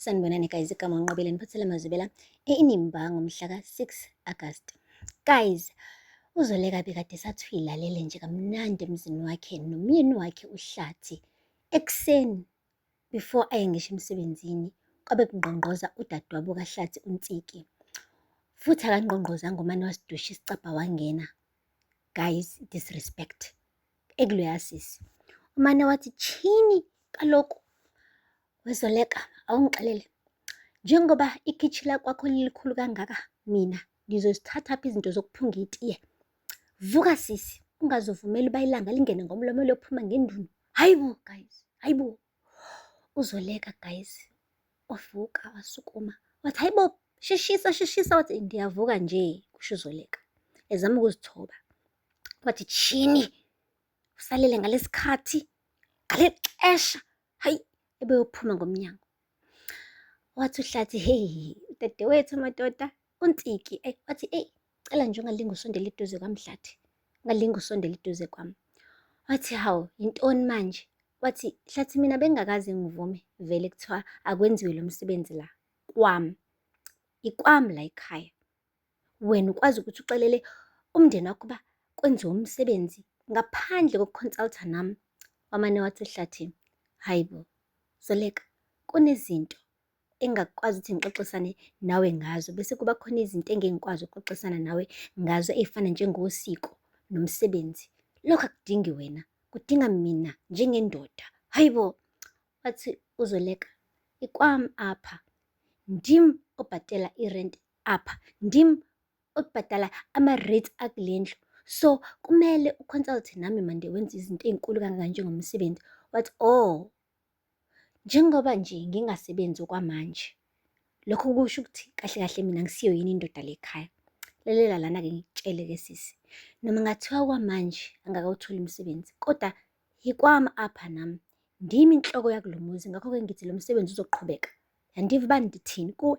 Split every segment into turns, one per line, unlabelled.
Sanibonani guys, igama uNqobile niphathele mazibela eNimba ngomhla ka-6 August. Guys, uzoleka bekade sathi uyilalele nje kamnandi emzini wakhe nomyeni wakhe uhlathi ekuseni before aye ngisho emsebenzini kwabe kungqongqoza udadewabo kahlathi uNtsiki. Futhi akangqongqozanga umane wasidusha isicabha wangena. Guys, disrespect. ekuluyasisi umane wathi chini kaloku wezoleka awungixelele njengoba ikhitshi lakwakho lilikhulu kangaka mina ngizozithatha phi izinto zokuphunga itiye vuka sisi ungazovumeli uba ilanga lingene ngomlomo lophuma ngendunu hayi bo guys hayi bo uzoleka guys wavuka wasukuma wathi hayi bo sheshisa sheshisa wathi ndiyavuka nje kusho uzoleka ezama ukuzithoba Wathi tshini usalele ngalesikhathi ngaleli xesha hayi ebeyophuma ngomnyango wathi uhlathi heyi dadewethu madoda untiki ayi wathi eyi cela nje ungalinge usondele eduze kwamdlathi ungalinge usondele eduze kwami wathi hawu yintoni manje wathi hlathi mina bengakaze ngivume vele kuthiwa akwenziwe lo msebenzi la kwami ikwami la ekhaya Wena ukwazi ukuthi uxelele umndeni wakho uba kwenziwa umsebenzi ngaphandle kokuconsulta nami wamane wathi ehlathini hayi bo zoleka kunezinto engakwazi ukuthi ngixoxisane nawe ngazo bese kuba khona izinto engingikwazi ukuxoxisana nawe ngazo ey'fana njengosiko nomsebenzi lokho akudingi wena kudinga mina njengendoda hayi bo wathi uzoleka ikwami apha ndim obhatela irenti apha ndim obhadala ama-rates akule ndlu so kumele uconsulte nami mande wenza izinto ey'nkulu kangaka njengomsebenzi wathi o oh, njengoba nje ngingasebenzi okwamanje lokho kusho ukuthi kahle kahle mina ngisiyo yini indoda lekhaya lalela lana-ke ngikutshele ke sisi noma ngathiwa kwamanje angakawutholi umsebenzi kodwa yikwami apha nami ndimi inhloko yakulo muzi ngakho-ke ngithi lo msebenzi uzoqhubeka yandiva uba ndithini kuwe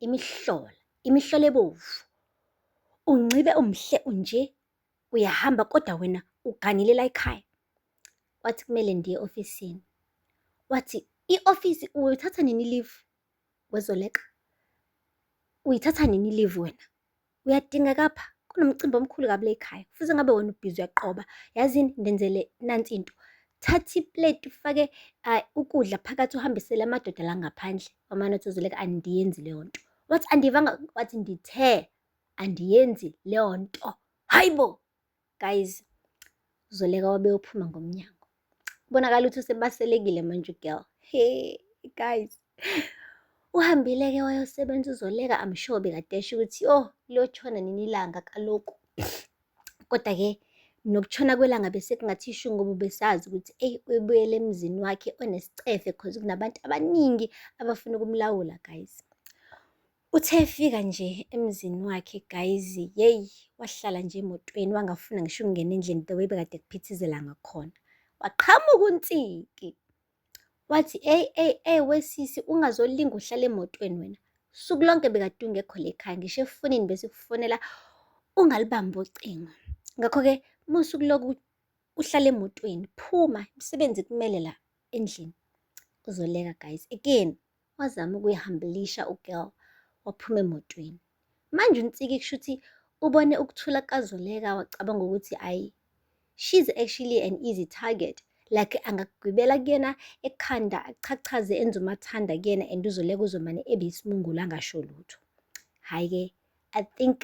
imihlola, imihlola ebovu. Unxibe umhle unje, uyahamba kodwa wena uganile layikhaya. Wathi, kumele ndiye ofisini. Wathi, i-ofisi uyothatha nini ilivu wezoleqa? Uyithatha nini ilivu wena? uyadingeka apha kunomcimbi omkhulu kabi lekhaya futhi ngabe wena ubhizi uyaqoba yazini ndenzele nansi into thatha ipleti ufake uh, ukudla phakathi uhambisele amadoda la ngaphandle wamane uthi uzoleka andiyenzi leyo nto wathi andivanga wathi ndithe andiyenzi leyo nto hayibo guys uzoleka wabeyophuma ngomnyango kubonakala ukuthi usebaselekile manje ugirl he guys uhambile-ke wayosebenza uzoleka I'm sure bekade esho ukuthi oh liyotshona nini ilanga kaloku kodwa-ke nokutshona kwelanga bese kungathi isho ngoba besazi ukuthi eyi uyibuyele emzini wakhe onesicefe cause kunabantu abaningi abafuna ukumlawula guys Uthe efika nje emzini wakhe guys yeyi wahlala nje emotweni wangafuna ngisho ukungena endlini the way bekade kuphithizela ngakhona. Waqhamuka uNtsiki wathi eyi eyi eyi wesisi ungazolinga uhlala emotweni wena. Usuku lonke bekade ungekho la ekhaya ngisho efonini bese kufonela ungalibambi ucingo. Ngakho-ke uma usuku loku uhlala emotweni phuma imisebenzi kumele la endlini. Uzoleka guys again wazama ukuyihambilisha ugirl waphuma emotweni manje unsiki kusho ukuthi ubone ukuthula kukazoleka wacabanga ukuthi ayi she's actually an easy target like angagwibela kuyena ekhanda achachaze enze umathanda kuyena and uzoleka uzomane ebe isimungulu angasho lutho hhayi-ke i think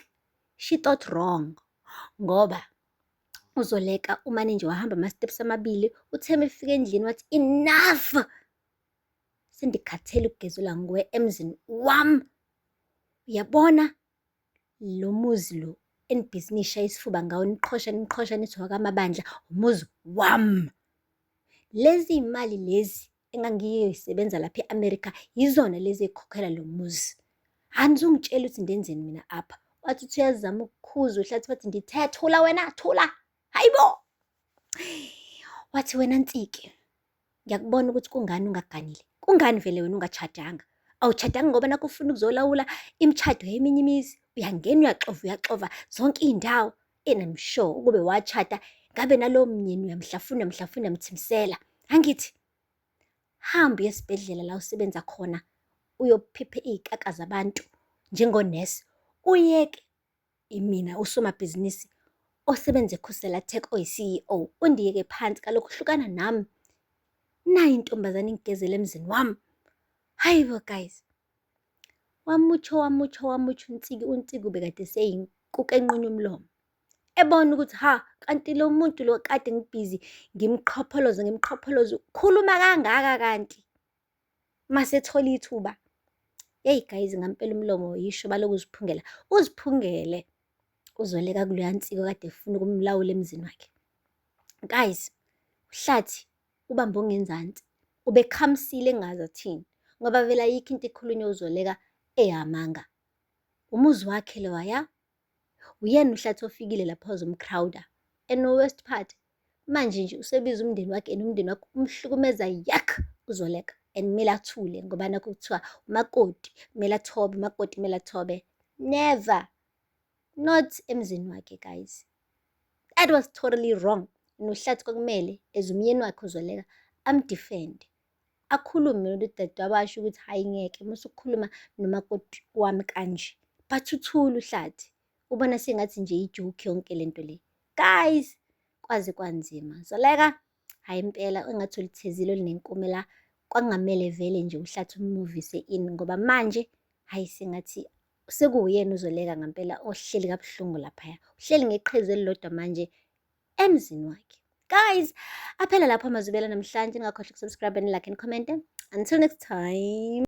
she thought wrong ngoba uzoleka umane nje wahamba ama-steps amabili utheme efika endlini wathi enough sendikhathele ukugezelwa nguwe emzini wam uyabona lo muzi lo enibhizi niyishaya isifuba ngawo niqhosha niqhosha nithi wakamabandla umuzi wam lezi imali lezi engangiyoyisebenza lapha e-amerika yizona lezi ekhokhela lo muzi anizungitshela ukuthi ndenzeni mina apha wathi uthi uyazama ukukhuza uhlathi wathi ndithe thula wena thula hayibo wathi wena nsike Ngiyakubona ukuthi kungani ungaganile. Kungani vele wena ungachadanga? Awuchadanga ngoba nakho ufuna ukuzolawula imishado yeminye imizi. Uyangena uyaxova uyaxova zonke iy'ndawo. And I'm sure ukube wachada ngabe nalowo mnyeni uyamhlafuna uyamhlafuna uyamthimsela. Angithi? Hamba uye esibhedlela la usebenza khona uyophiphe iy'kaka zabantu njengonesi. Uyeke Imina usomabhizinisi osebenza eKhusela Tech oyi-CEO, undiyeke phansi kaloku hlukana nam. Nayi intombazane ingigezela emzini wam, hayi bo guys. Wamutsho wamutsho wamutsho uNtsiki, uNtsiki ubekade eseyinkuku enqunywa umlomo. Ebona ukuthi hha, kanti lo muntu lo kade ngibhizi ngimqhopholoza ngimqhopholoza, ukhuluma kangaka kanti. masethola ithuba yeyi guys ngampela umlomo yisho baloku uziphungela uziphungele uzoleka kuleya nsiko kade efuna ukumlawula emzini wakhe guys uhlathi ubambe ongenzansi ubekhamsile engazi athini ngoba vele ayikho into ikhulunywa uzoleka eyamanga umuzi wakhe lowa ya Uyena uhlathi ofikile lapho wazomcrowder and no worst part manje nje usebiza umndeni wakhe and umndeni wakhe umhlukumeza yak uzoleka and kumele athule ngoba nakho kuthiwa umakoti kumele athobe umakoti kumele athobe never not emzini wakhe guys that was totally wrong nohlathi kwakumele as umyeni wakhe uzoleka amdefende akhulume nodadewabo asho ukuthi hhayi ngeke musukhuluma nomakoti wami kanje but uthula uhlathi ubona sengathi nje ijoke yonke le nto le guys kwaze kwanzima zoleka hhayi impela engathi ulithezile olinenkume la kwangamele vele nje uhlathi umuvise ini ngoba manje hhayi sengathi sekuwuyena uzoleka ngempela ohleli kabuhlungu laphaya uhleli ngeqhezu elilodwa manje emzini wakhe guys aphela lapho amazwibela namhlanje ningakhohlwa ukusubscribe and like and comment until next time